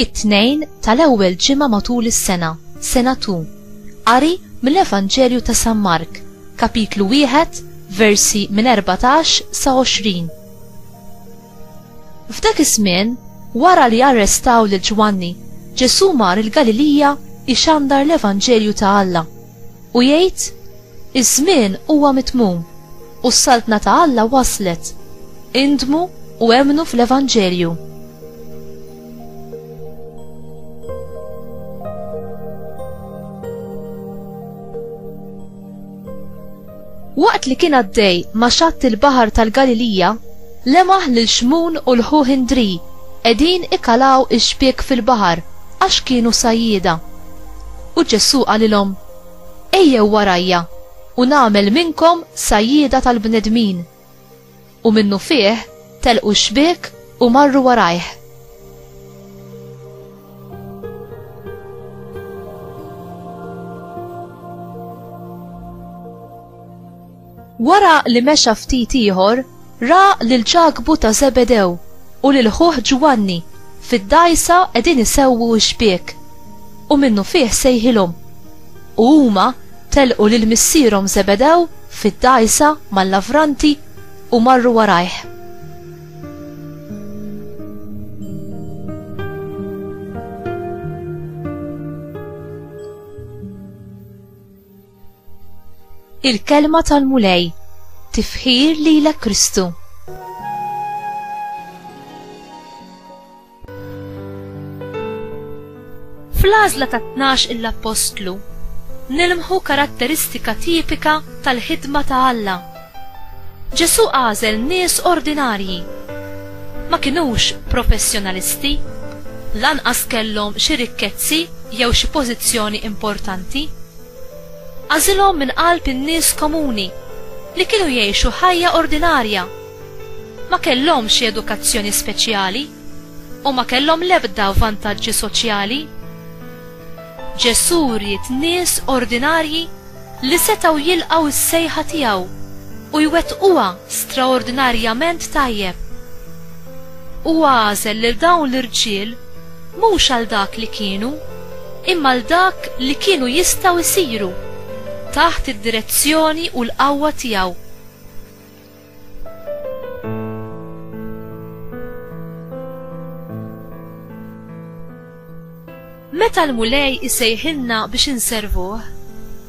it-tnejn tal-ewwel ġimgħa matul is-sena, sena tu. Qari mill-Evanġelju ta' San Mark, kapitlu wieħed, versi minn 14 sa 20. F'dak iż-żmien, wara li arrestaw lil Ġwanni, Ġesù mar il-Galilija jxandar l-evanġelju ta' Alla, u jgħid, Iż-żmien huwa mitmum, u s-saltna ta' Alla waslet. Indmu u emmnu fl-evanġelju. Waqt li kien għaddej ma' xatt il-baħar tal-Galilija, lemaħ lil Xmun u l-ħuh Indri qegħdin ikalaw ix-xbiek fil-baħar għax kienu sajjieda. U Ġesù qalilhom, Ejjew warajja, u nagħmel minnkom sajjieda tal-bnedmin. U minnu fih telqu xbiek u marru warajh. Wara li mexa ftit ieħor, ra lil ċakbu ta' Zebedew u lil ħuh Ġwanni fid-dajsa qegħdin isewwu xbiek. U minnu fih sejħilhom. U huma telqu lil missierhom Żebedew fid-dgħajsa mal-lavranti u marru warajh. Il-kelma tal-Mulej tifħir lilek Kristu. Fl-għażla ta' tnax il-appostlu nilmħu karatteristika tipika tal-ħidma ta' Alla. Ġesu għażel nies ordinarji. Ma kinux professjonalisti, lanqas kellhom xi rikkezzi jew xi pożizzjoni importanti. Għażilhom minn qalb in-nies komuni li kienu jgħixu ħajja ordinarja Ma kellhomx xi edukazzjoni speċjali u ma kellhom l-ebda vantaġġi soċjali. Ġesù ried nies ordinarji li setgħu jilqgħu s-sejħa tiegħu u jwettquha straordinarjament tajjeb. Huwa għażel lil dawn l-irġiel mhux għal dak li kienu, imma għal dak li kienu jistgħu jsiru, taħt id-direzzjoni u l-qawwa tiegħu. Meta l-Mulej isejħilna biex inservuh,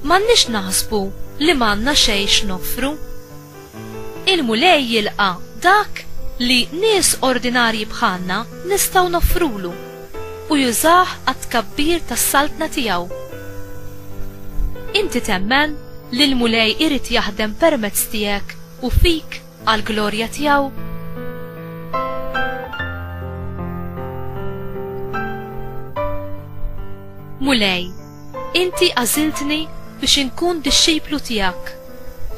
m'għandniex naħsbu li m'għandna xejn x'noffru. Il-Mulej jilqa' dak li nies ordinarji bħalna nistgħu noffrulu. u jużah għat-tkabbir tas-Saltna tiegħu. Inti temmen li l-Mulej irid jaħdem permezz tiegħek u fik għall-glorja tiegħu? Mulej, inti għażiltni biex inkun dixxiplu tiegħek.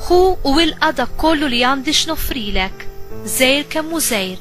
Ħu u ilqa' dak kollu li għandi x'noffrilek, żgħir kemm hu żgħir.